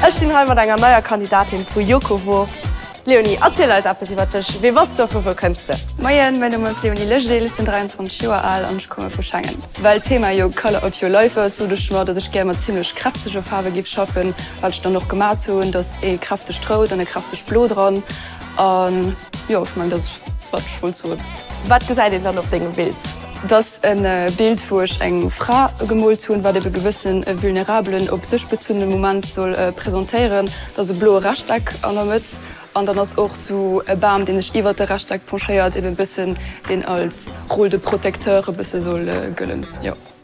Ech stinn hei mat enger neier Kandidatin vu Yokowo. Léonie, erziel eis eppes iwwer dech. Wee bass du a vu wou kënns de? Moien, mäin Numm ass Léonie Legeel, ech sinn 23 Joer al an ech komme vu Schengen. Well d'Thema jo Colour of your life ass, sot ech mer, datt ech gär mat zimmlech kräftege Faarwe géif schaffen, wat ech dann och gemat hunn. Da ass ee kräftegt Rout an e kräftegt Blo dran. An jo ech mengen dat ass wat ech wollt soen. Wat gesäit een dann op dengem Bild? Dat ass e Bild wou ech eng Fra gemoolt hunn, wat ebe gewëssen e vulnerabelen, op sech bezunnene Moment soll presentéieren. Dat ass e bloe Rechteck an der Mëtt an dann ass och esou e Bam deen sech iwwert de Rechteck penchéiert, ebe e bëssen deen als rôle de protecteur e bësse soll gëllen jo.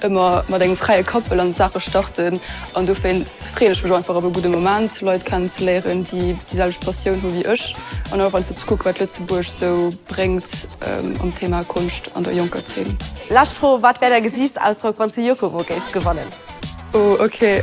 Ëmmer mat engem fräie Kapp wëll an d'Saache starten an dowéinst freeën ech mech einfach op e gudde Moment, Leit kennenzeléieren, déi déi selwecht Passioun hu wéi ech an och einfach ze kucken, wat Lëtzebuerg esou bréngt am Thema Konscht an der jonker Zeen. Lescht Fro, Wat wär däi Gesiichtsausdrock, wann s de Jokoro géifs gewannen? Oh ok.